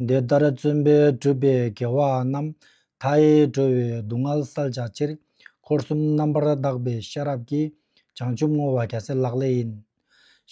འདི་ལྟར་བརྩོན་པས་སྤྲུལ་པའི་དགེ་བ་རྣམས། མཐའ་ཡས་སྒྲོལ་བའི་སྡུག་བསྔལ་བསལ་བྱ་ཕྱིར། འཁོར་གསུམ་རྣམ་པར་དག་པའི་ཤེས་རབ་ཀྱིས། བྱང་ཆུབ་བསྔོ་བ་རྒྱལ་སྲས་ལག་ལེན་ཡིན།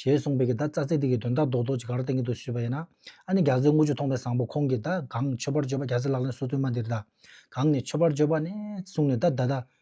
ཞེས་གསུངས་པའི་གི་ད་རྩ་ཚིག་དེ་གི་དོན་དག་རྡོག་རྡོག་ཅིག་ག་རེ་གཏན་འཁེལ་དུ་ཞུས་པ་ཡིན་ན། ཨ་ནི་རྒྱ་མཚོའི་རྔུལ་ཆུ་མཐོང་བའི་བཟང་པོ་ཁོང་གིས་ད་གང་མཆོད་པར་བརྗོད་པ་རྒྱལ་སྲས་ལག་ལེན་སོ་བདུན་མ་འདིར་ད་གང་ནས་མཆོད་པར་བརྗོད་པ་ནས་གསུངས་ནས་ད་ད་ད་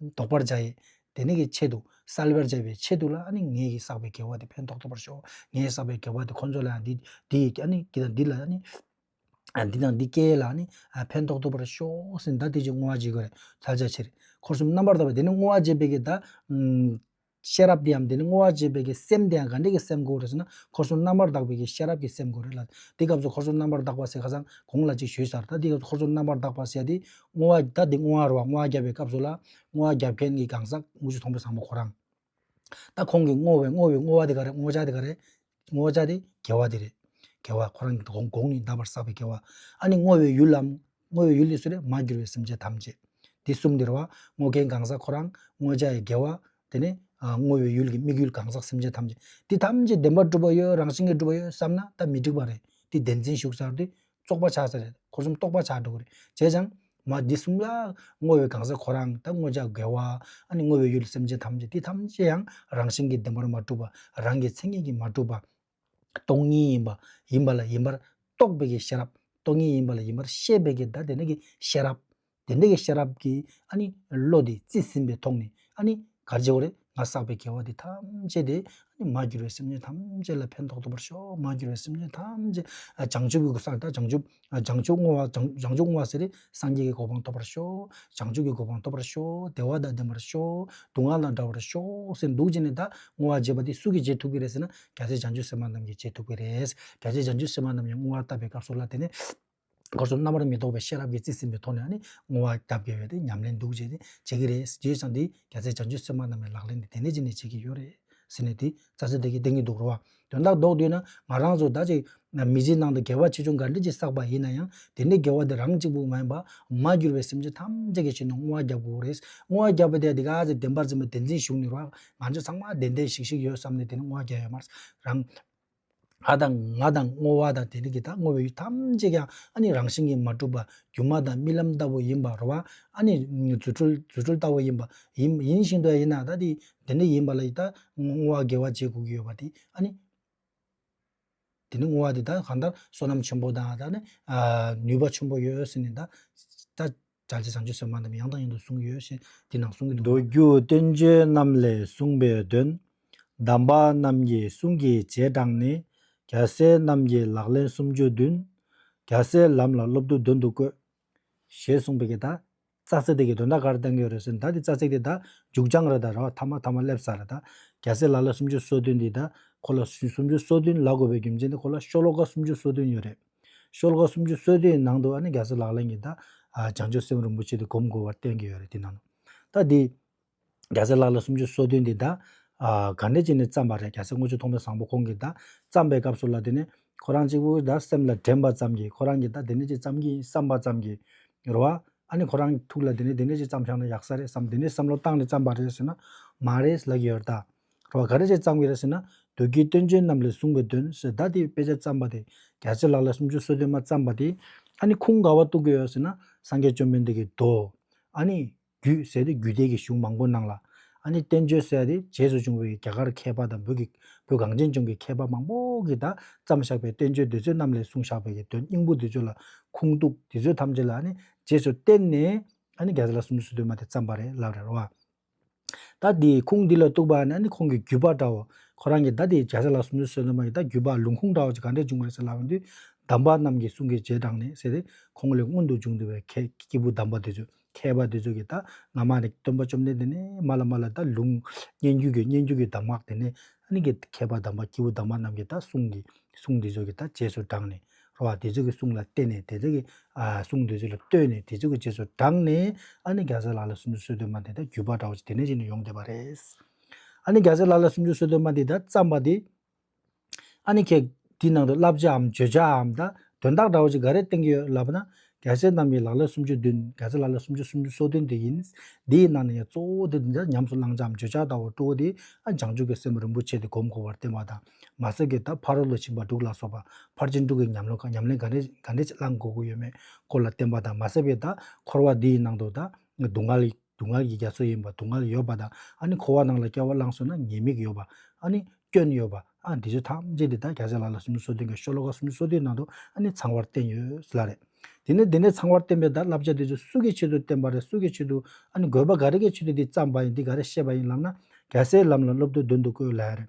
བཟློག་པར་བྱ་ཡི། དེ་ནི་གི་ཆེད་དུ་བསལ་བར་བྱ་བའི་ཆེད་དུ་ལ་ཨ་ནི་ངེད་ཀྱིས་བསགས་པའི་དགེ་བ་དེ་ཕན་ཐོགས་ཐོབ་པར་ཤོག་ངས་བསགས་པའི་དགེ་བ་དེ་ཁོ་ཚོ་ལའང་འདི་འདི་ཡི་ཨ་ནི་འདི་དང་འདི་ལ་ཨ་ནི་འདི་དང་འདི་སྐྱེ་ལ་ཨ་ནི་ཕན་ཐོགས་ཐོབ་པར་ཤོག་ཟིན་ད་དེ་ཅིག་བསྔོ་བ་བགྱིད་དགོས་རེད་ཚར་བཅད་ཕྱིར། འཁོར་གསུམ་རྣམ་པར་དག་པའི་དེ་ནི་བསྔོ་བ་བགྱིད་པའི་གི་ད། ཤེས་རབ་དེའམ་དེ་ནི་བསྔོ་བ་བྱེད་པའི་གི་སེམས་དེའང་ག་འདྲེ་གི་སེམས་གོ་རེ་ཟེར་ན་འཁོར་གསུམ་རྣམ་པར་དག་པའི་གི་ཤེས་རབ་ཀྱི་སེམས་གོ་རེ་ལ། འདི་སྐབས་སུ་འཁོར་གསུམ་རྣམ་པར་དག་པ་ཟེར་ཁ་སང་གོང་ལ་ཅིག་ཞུས་ཚར་ད་འདི་སྐབས་སུ་འཁོར་གསུམ་རྣམ་པར་དག་པ་ཟེར་ཏེ་བསྔོ་བ་ད་འདི་བསྔོ་བ་རུ་བ་བསྔོ་བ་བརྒྱབ་པའི་སྐབས་སུ་ལ་བསྔོ་བ་བརྒྱབ་མཁན་གི་གང་ཟག་དངུལ་ཆུ་ཚོང་པའི་བཟང་པོ་ཁོ་རང། ད་ཁོང་གིས་བསྔོ་བའི་བསྔོ་བའི་བསྔོ་བ་དེ་ག་རེ་བསྔོ་བྱ་དེ་ག་རེ་བསྔོ་བྱ་དེ་དགེ་བ་དེ་རེད། དགེ་བ་ཁོ་རང་གི་དགོངས་ནི་འདའ་བར་བསགས་པའི་དགེ་བ། ཨ་ནི་བསྔོ་བའི་ཡུལ་ལམ། བསྔོ་བའི་ཡུལ་ནི་སུ་རེད་མ་གྱུར་པའི་སེམས་ཅན་ཐམས་ཅད། འདི་གསུམ་འདིར་བ། བསྔོ་མཁན་གང་ཟག་ཁོ་རང། བསྔོ་བྱ་ཡི་དགེ་བ། དེ་ནས། བསྔོ་བའི་ཡུལ་གྱི་དམིགས་ཡུལ་གང་ཟག་སེམས་ཅན་ཐམས་ཅད། འདི་ཐམས་ཅད་བདེན་པར་གྲུབ་པ་ཡོད་རང་བཞིན་གྱིས་གྲུབ་པ་ཡོད་བསམ་ན་ད་མི་འགྲིག་པ་རེད། འདི་བདེན་འཛིན་ཞུགས་ཚར་དུས། རྩོག་པ་ཆགས་ས་རེད་འཁོར་གསུམ་རྟོགས་པ་ཆགས་འགྲོ་གི་རེད་བྱས་ཙང། མ་འདི་གསུམ་ལ། བསྔོ་བའི་གང་ཟག་ཁོ་རང་དང་བསྔོ་བྱ་དགེ་བ། ཨ་ནི་བསྔོ་བའི་ཡུལ་ལ་སེམས་ཅན་ཐམས་ཅད་དེ་ཐམས་ཅད་ཡང་རང་བཞིན་གྱིས་བདེན་པར་མ་གྲུབ་པ། རང་གི་མཚན་ཉིད་ཀྱིས་མ་གྲུབ་པ། སྟོང་ཉིད་ཡིན་པ། ཡིན་པ་ལ་ཡིན་པར་རྟོགས་པའི་ཀྱི་ཤེས་རབ། སྟོང་ཉིད་ཡིན་པ་ལ་ཡིན་པར་ཤེས་པའི་ཀྱི་བདག་དེ་ནི་ཀྱི་ཤེས་རབ། དེ་འདི་གི་ཤེས་རབ་ཀྱི་བློ་དེ་རྩིས་ཟིན་པའི་ཐོག་ནས་གར་བྱེད་རེ་ང་བསགས་པའི་དགེ་བ་དེ་ཐམས་ཅད་དེ་མ་བསྒྱུར་བའི་སེམས་ཅན་ཐམས་ཅད་ལ་ཕན་ཐོགས་ཐུབ་པར་ཤོག་མ་བསྒྱུར་བའི་སེམས་ཅན་ཐམས་ཅད་བྱང་ཆུབ་ཀྱི་གོ་ས་ནས་ད་བྱང་ཆུབ་བྱང་ཆུབ་བསྔོ་བ་བྱང་ཆུབ་བསྔོ་བ་ཟེར་རེས་སངས་རྒྱས་ཀྱི་གོ་འཕང་ཐོབ་པར་ཤོག་བྱང་ཆུབ་ཀྱི་གོ་འཕང་ཐོབ་པར་ཤོག་བདེ་བ་དང་ལྡན་པར་ཤོག་སྡུག་བསྔལ་དང་འདྲ་བར་ཤོག་ཟེར་འདུག་ཅེས་ནས་ད་བསྔོ་བ་བྱེད་པ་དེ་སུ་གིས་བྱེད་ཐུབ་ཀྱི་རེད་ཟེར་ན་རྒྱ་ཆེ་བྱང་ཆུབ་སེམས་དཔའ་རྣམས་ཀྱིས་བྱེད་ཐུབ་ཀྱི་རེད་རྒྱ་ཆེ་བྱང་ཆུབ་སེམས་དཔའ་རྣམས་ཀྱི་བསྔོ་བ་བཏབ་པའི་སྐབས་སུ་ལ་དེ་ནས། སྒོར་སོགས་རྣམ་པར་མི་རྟོག་པའི་ཤེས་རབ་ཀྱིས་རྩིས་ཟིན་པའི་ཐོག་ནས་ངོ་བ་རྒྱ་བསྐྱེད་པའི་ཉམས་ལེན་འདུག་ཅེས་བྱེད་ཀྱི་རེད་ཟེར་རྗེས་ཀྱང་འདི་རྒྱ་ཚད་བྱང་ཆུབ་སེམས་དཔའ་རྣམས་ལས་ལག་ལེན་འདི་དེ་འདྲས་ཅི་ནས་བྱེད་ཀྱི་ཡོད་རེད་ཟེར་ནས་དེ་རྩ་ཚིག་དེ་གས་བསྟན་གྱི་འདུག་རེད་བ། དོན་དག་ལྡོག་དུས་ན་ང་རང་ཚོ་ད་ཅིག་མི་ཚེའི་ནང་དུ་དགེ་བ་ཆེ་ཆུང་ག་འདྲས་ཀྱིས་བསགས་པ་ཡིན་ན་ཡང་དེ་འདྲའི་དགེ་བ་དེ་རང་གཅིག་པུ་མ་ཡིན་པར་མ་གྱུར་པའི་སེམས་ཅན་ཐམས་ཅད་ཀྱི་ཆེད་དུ་བསྔོ་བ་བརྒྱབ་དགོས་ཀྱི་རེད། བསྔོ་བ་བརྒྱབ་པ་དེ་འདི་ག་ཚེ་བདེན་པར་འཛིན་པ་བདེན་འཛིན་བཞུགས་ནི་རོགས། ང་ཚོ་ཚང་མ་བདེན་བདེན་ཞིག་ཞིག་ཡོད་བསམ་ནས་དེ་ནས་བསྔོ་བ་བརྒྱབ་ཡོད་མ་རེད། རང། ལྷ་དང་ང་དང་སྔོ་བ་དང་དེ་རིགས་ཀྱི་དང་སྔོ་བའི་ཡུལ་ཐམས་ཅད་ཀྱང་ཨ་ནི་རང་བཞིན་གྱིས་མ་གྲུབ་པ་སྒྱུ་མ་དང་རྨི་ལམ་ལྟ་བུ་ཡིན་པར་རོ། བ་ཨ་ནི་རྫུ་འཕྲུལ་རྫུ་འཕྲུལ་ལྟ་བུ་ཡིན་པ། ཡིན་ཡིན་བཞིན་དུ་ཡ་ཡིན་ན་ད་དེ་འདི་འདྲ་ཡིན་པ་ལ་ཡི་ད་སྔོ་བ་དགེ་བ་བྱེད་དགོས་ཀྱི་ཡོད་པ་དེ་ཨ་ནི། དེ་ནི་སྔོ་བ་དེ་ད་གང་ལྟར་བསོད་ནམས་ཆེན་པོ་དང་ད་ནི་ནུས་པ་ཆེན་པོ་ཡོད་ཟེར་ནས་ད། སྒྲ་ཇི་བཟང་ཇི་བཟོད་མ་རྣམས་ཡང་དང་ཡང་དུ་གསུངས་ཡོད་ཞེས་འདི་ནང་གསུང་གི་འདུག་པ། མདོ་རྒྱུད་བསྟན་བཅོས་རྣམས་ལས་གསུངས་པའི་དོན། གདམས་པ་རྣམས་ཀྱི་གསུང་གི་རྗེས་འབྲངས་ནས། རྒྱལ་སྲས་རྣམས་ཀྱི་ལག་ལེན་སུམ་ཅུ་བདུན། རྒྱལ་སྲས་ལམ་ལ་སློབ་བསྡུ་འདོན་དུ་བཀོད། ཞེས་གསུངས་པའི་གདའ། ཙག་ཙིག་དེ་གའི་དོན་བདག་གར་བསྟན་གྱི་རེད་ཟེར་བདའ་དེ་ཙག་ཙིག་དེ་བདའ་མཇུག་སྦྱང་རེད་བདའ་ར་བ་ཐ་མ་ཐ་མ་སླེབས་ས་རེད་བདའ་རྒྱལ་སྲས་ལག་ལེན་སུམ་ཅུ་སོ་བདུན་འདི་བདའ་ཁོ་ལ་སུམ་ཅུ་སོ་བདུན་ལ་དགོས་པའི་རྒྱུ་མཚན་དེ་ཁོ་ལ་ཤོ་ལོ་ཀ་སུམ་ཅུ་སོ་བདུན་ཡོད་རེད། ཤོ་ལོ་ཀ་སུམ་ཅུ་སོ་དེའི་ནང་དུ་ཨ་ནི་རྒྱ་བཟའ་ལག་ལེན་གྱིས་ད་བྱང་ཆུབ་སེམས་རིན་པོ་ཆེ་དེ་སྒོམ་དགོས་པར་བསྟན་གྱི་ཡོད་རེད་དེ་ནང་དུ། ད་དེ། རྒྱ་བཟའ་ལག་ལེན་སུམ་ཅུ་སོ་བདུན་དེ་ད། ག་འདྲས་ཀྱིས་ནས་བརྩམས་པ་རེད་རྒྱ་བཟའ་དངོས་བྱོན་ཐོག་མའི་བཟང་པོ་ཁོང་གིས་ད་བརྩམས་པའི་སྐབས་སུ་ལ་དེ་ནས་ཁོ་རང་གཅིག་པུ་ད་སེམས་ལ་དྲན་པ་ཙམ་གྱིས་ཁོ་རང་གིས་ད་དེ་འདྲས་ཅིག་བརྩམས་ཀྱིན་བསམ་པ་ཙམ་གྱིས། རེད་བ། ཨ་ནི་ཁོ་རང་གི་ཐུགས་ལ་དེ་ནས་དེ་འདྲས་ཅིག་བརྩམས་ཤག་ན་ཡག་ས་རེད་བསམ་དེ་འདྲས་བསམ་བློ་བཏང་ནས་བརྩམས་པ་རེད་ཟེར་ན། མ་རེད་ཟེར་ལབ་ཀྱི་ཡོད་རེད་ད། རོ་ག་རེ་བཅས་བརྩམས་ཀྱི་རེད་ཟེར་ན་བདུད་ཀྱི་སྟོན་ཆེན་རྣམས་ལས་བཟུང་བའི་དོན་ཞེས་བདག་དེའི་དཔེ་ཆ་བརྩམས་པ་དེ་རྒྱ་ཆེ་ལགས་ལས་སུམ་ཅུ་སོ་བདུན་མ་བརྩམས་པ་དེ། ཨ་ནི་ཁུངས་ག་བ་གཏུགས་ཀྱི་ཡོད་ཟེར་ན་སངས་རྒྱས་བཅོམ་ལྡན་འདས་ཀྱི་མདོ། ཨ་ནི། རྒྱུད་ཟེར་ཏེ་རྒྱུད་སྡེ་གྱི་གཞུང་མང་པོ་སྣང་ལ། ཨ་ནི་བསྟན་བཅོས་ཟེར་ཏེ་རྗེས་སུ་བྱུང་བའི་རྒྱ་གར་མཁས་པ་དང་བོད་གངས་ཅན་ལྗོངས་ཀྱི་མཁས་པ་མང་པོ་གིས་དག་བརྩམས་བཞག་པའི་བསྟན་བཅོས་འདི་ཚོའི་རྣམས་ལས་བཟུང་བཞག་པའི་གྱི་དོན་སྙིང་པོ་འདི་ཚོ་ལ་ཁུངས་གཏུགས་དེ་ཚོའི་ཐམས་ཅད་ལ་ཨ་ནི་རྗེས་སུ་བརྟེན་ནས། ཨ་ནི་རྒྱ་ཆེ་ལགས་སུམ་ཅུ་སོ་བདུན་མ་དེ་བརྩམས་པ་རེད་ལབ་རེད་རོ། ད་དེ་ཁུངས་འདི་ལ་གཏུགས་པ་ནི་ཁོང་གི་བརྒྱུད་པ་འདྲའོ། ཁོ་རང་གིས་ད་དེའི་རྒྱལ་ས་ལ་སུམ་ཅུ་སོ་གདོང་མ་ཡིས་ད་བརྒྱུད་པ་ལུང་ཁུངས་འདྲ་བ་ཅིག་ག་འདྲས་བྱུང་བ་རེད་ཟེར་ལབ་ཡོང་དུས། གདམས་པ་རྣམས་ཀྱི་གསུང་གི་རྗེས་འབྲངས་ནས་ཟེར་ཏེ་ཁོང་ལས་མངོན་དུ་བྱུང་འདུག་པས་མཁས་སྐྱེས་བུ་གདམས་པ་དེ་ཚོས་མཁས་པ་དེ་ཚོས་ཀྱིས་ད་ང་མ་ནི་སྟོན་པ་བཅོམ་ལྡན་འདས་ནི་མ་ལ་མ་ལ་ད་ལུང། སྙན་བརྒྱུད་ཀྱི་སྙན་བརྒྱུད་ཀྱི་གདམས་ངག་དེ་ནི། མཁས་པ་གདམས་པ་སྐྱེས་བུ་གདམས་པ་རྣམས་ཀྱིས་ད་གསུང་གི་གསུང་འདི་ཚོས་ཀྱིས་ད་རྗེས་སུ་འབྲངས་ནས། རོ་བ་དེ་ཚོ་གི་གསུང་ལ་བརྟེན་ནས་དེ་ཚོ་གི་གསུང་དེ་ཚོ་ལ་ལྟོས་ནས་དེ་ཚོ་གི་རྗེས་སུ་འབྲངས་ནས་ཨཱ་ནི་རྒྱ་མཚོའི་ལ་ལ་སུམ་ཅུ་སོ་བདུན་མ་དེ་དག་རྒྱུས་པ་འདྲ་བོ་ཞིག་དེ་ནས་ཅིག་ནས་ཡོང་བསྡད་པ་རེད། ཨཱ་ནི་རྒྱ་མཚོའི་ལ་ལ་སུམ་ཅུ་སོ་བདུན་མ་དེ་དག་བརྩམས་པ་དེ། ཨཱ་ནི་ཁྱེད་དེའི་ནང་དུ་བསླབ་བྱའམ་བརྗོད་བྱའམ་དང་དོན་དག་འདྲ་བོ་ཞིག་ག་རེ་བསྟན་གྱི་ཡོད་ལབ་ན། རྒྱ་མཚོའི་གཏམ་གྱི་ལ་ལ་སུམ་ཅུ་བདུན་རྒྱ་མཚོའི་ལ་ལ་སུམ་ཅུ་སུམ་ཅུ་སོ་བདུན་དེ་ཡིན། དེའི་ནང་ནས་ཡང་གཙོ་བོ་དེ་འདི་འདྲ་ཉམས་སུ་བླང་བྱའམ་བརྗོད་བྱ་ལྟ་བུར་སྤྲོ་བོ་དེ་ཨ་བྱང་ཆུབ་ཀྱི་སེམས་རིན་པོ་ཆེ་དེ་སྒོམ་དགོས་པར་བསྟན་པ་དང། མ་བསད་ཀྱི་ད་ཕ་རོལ་ལོ་ཕྱིན་པ་འབྲུག་ལ་སོགས་པ་ཕར་ཕྱིན་དྲུག་གི་ཉམས་ལེན་གང་གནས་གང་འདྲས་བླང་དགོས་ཀྱི་ཡོད་མེད་སྐོར་ལ་བསྟན་པ་དང་མ་བསད་པའི་ད་འཁོར་བ་འདི་ཡི་ནང་དུ་ད་སྡུག་བསྔལ་སྡུག་བསྔལ་གྱི་རྒྱ་མཚོ་ཡིན་པ་སྡུག་བསྔལ་ཡོད་པ་དང་ཨ་ནི་འཁོར་བ་ནང་ལ་སྐྱེ་བ་བླངས་སོང་ན་ཉེས་དམིགས་ཡོད་པ་ཨ་ནི་སྐྱོན་ཡོད་པ་ཨ་འདི་ཚོ་ཐམས་ཅད་འདི་ད་ག་ཚད་ལ་ལ་སུམ་ཅུ་སོ་བདུན་གྱི་ཤོ་ལོ་ཀ་སུམ་ཅུ་སོ་བདུན་ནང་དུ་ཨ་ནི་ཚང་བར་བསྟན་ཡོད་ལ་རེད། དེ་ནས་དེ་ནས་ཚང་བར་བསྟན་པའི་ད་བསླབ་བྱ་འདི་ཚོ་སུ་གི་ཆེད་དུ་བསྟན་པ་རེད་སུ་གི་ཆེད་དུ་ཨ་ནི་དགོས་པ་ག་རེ་གི་ཆེད་དུ་འདི་བརྩམས་པ་ཡིན་འདི་ག་རེ་བཤད་པ་ཡིན་ལབ་ན་ག་ཚད་ལམ་ལ་སློབ་དུས་བདུན་དུ་བཀོད་ལ་རེད།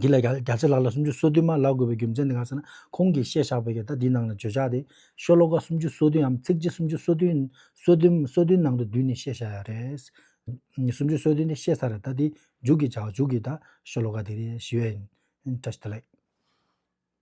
འདི་ལ་རྒྱ་ཆེ་ལགས་ལ་སུམ་ཅུ་སོ་བདུན་མ་ལག་དགོས་པའི་རྒྱུ་མཚན་ནི་གང་ཟེར་ན་ཁོང་གིས་བཤད་བཞག་པའི་ཡ་ད་འདིའི་ནང་ལ་བརྗོད་བྱ་དེ་ཤོ་ལོ་ཀ་སུམ་ཅུ་སོ་བདུནའམ་ཚིགས་བཅད་སུམ་ཅུ་སོ་བདུན་སོ་བདུན་སོ་བདུན་ནང་དུ་བསྡུས་ནས་བཤད་བཞག་ཡག་རེད། སུམ་ཅུ་སོ་བདུན་དེ་བཤད་ཚར་རེད་ད་འདི་མཇུག་གི་བྱ་བ་མཇུག་གི་ད་ཤོ་ལོ་ཀ་དེ་རེད་ཞུ་ཡས་ཡིན། བཀྲ་ཤིས་བདེ་ལེགས།